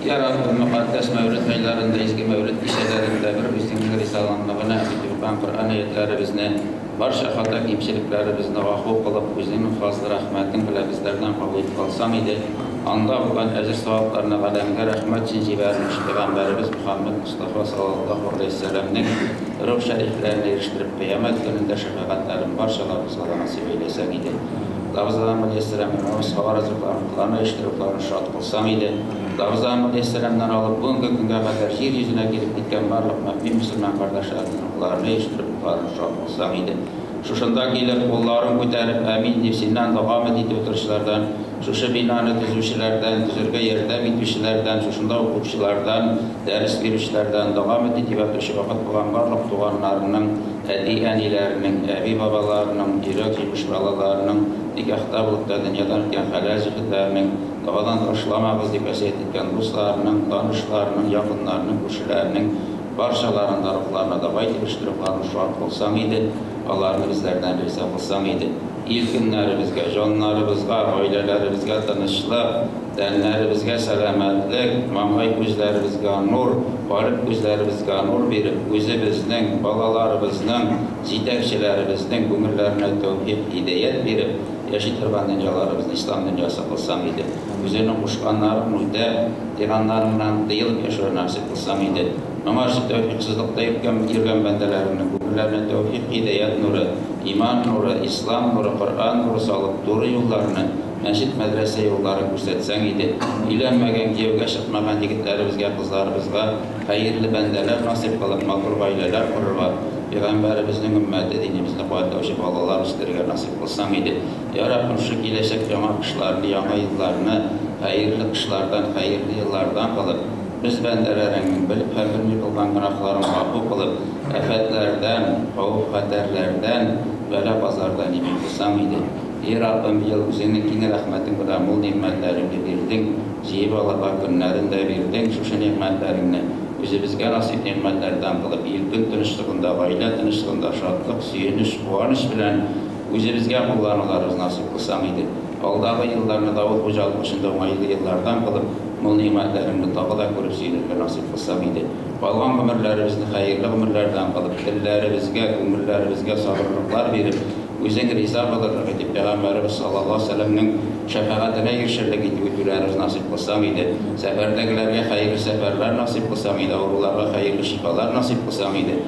Ярар ул мөкатдәс мәүлет айларында, изге мәүлет кичәләрендә бер үзеңнең ризалыгыңны гына үтен торган Коръән аятьләребезне, барча хата-кимчелекләребезне гафу кылып, үзеңнең фазлы рәхмәтең белән безләрдән кабул итеп алсаң иде, анда булган әҗер-савапларны галәмгә рәхмәт өчен җибәрелүче пәйгамбәребез Мөхәммәд Мостафа салаллаһу галәйһи сәламнең рух шәрифләренә ирештереп, кыямәт көнендә шәфәгатьләрен барча лабызларга насыйп әйләсәң иде. Лабызларың белән ясәләнгән намаз һава ризыкларын, котлама еш-тырукларын шат кылсын. Сәгыйдә, Дарза мөхтәсирәннән алып бүгенге көнгә кадәр җир йөзенә килеп киткән барлык мөэмин мөселман кардәшләрнең рухларын җыештырып кутларың шат булсын, Сәгыйдә. Шушында килеп, кулларын күтәреп, Әмин дип, синнән дога-мет итеп утыручылардан, шушы бинаны төзүчеләрдән, төзергә ярдәм итүчеләрдән, шушында укучылардан, дәрес бирүчеләрдән, дога-мет итеп ятучы вафат булган барлык туганнарының, әти-әниләренең, әби-бабаларының, йөрәк җимеш балаларының, никахта булып та, дөньядан үткән хәләл җефетләрнең, Дәвадан ташламагыз, дип вәсыять иткән дусларының, танышларының, якыннарының, күршеләренең барчаларын да рухларына да бай килештереп аны шат кылсаң иде, аларны безләрдән риза кылсаң иде. Ил көннәребезгә, җаннарыбызга, гаиләләребезгә тынычлык, тәннәребезгә сәламәтлек, маңгай күзләребезгә нур, калеб күзләребезгә нур биреп, үзебезнең, балаларыбызның, җитәкчеләребезнең күңелләренә тәүфикъ, һидәят биреп, Яши торган дөньяларыбыз Ислам дөньясы кылсам иде. Үзеңнең кушканнарың мурдә, тыйганнарың белән тыелып яшәү насыйп кылсам иде. Моңарчы тәүфикъсызлыкта йөргән йөргән бәндәләреңнең күңелләренә тәүфикъ, һидаят нуры, иман нуры, Ислам нуры, Коръән нуры салып, туры юлларны, мәчет, мәдрәсә юлларын күрсәтсәң иде. Өйләнмәгән, кияүгә чыкмаган егетләребезгә, кызларыбызга хәерле бәндәләр насыйп кылып, матур гаиләләр корырга, пәйгамбәребезнең өммәте, динебезне куәтләүче балалар үстерергә насыйп. Кылсам иде. Ярар, күрше киләчәк яңа кышларны, яңа елларны, хәерле кышлардан, хәерле еллардан кылып, без бәндәләреңнең белеп һәм белми кылган гөнаһларын гафу кылып, афәтләрдән, хавыф-хәтәрләрдән, бәла-базардан имин кылсам иде. И Раббым, ел, үзеңнең киң рәхмәтең белән мул нигъмәтләреңне бирдең, җыеп ала бар көннәрен дә бирдең, шушы нигъмәтләреңне үзебезгә насыйп нигъмәтләрдән кылып, ил-көн тынычлыгында, гаилә тынычлыгында, шатлык, сөенеч, Куаныч белән үзебезгә куллануларыбыз насыйп булсам иде. Алдагы елларны Давыт хуҗалык эшендә уңайлы еллардан кылып, мул нигъмәтләреңне тагы да күреп сөенергә насыйп булсам иде. Калган гомерләребезне хәерле гомерләрдән кылып, телләребезгә, күңелләребезгә сабырлыклар биреп, үзең риза булырлык итеп, пәйгамбәребез саллаллаһу алейһи ва сәлләмнең шәфәгатенә ирешерлек итеп үтүләребез насыйп булсам иде. Сәфәрдәгеләргә хәерле сәфәрләр насыйп булсам иде, авыруларга хәерле шифалар насыйп булсам иде.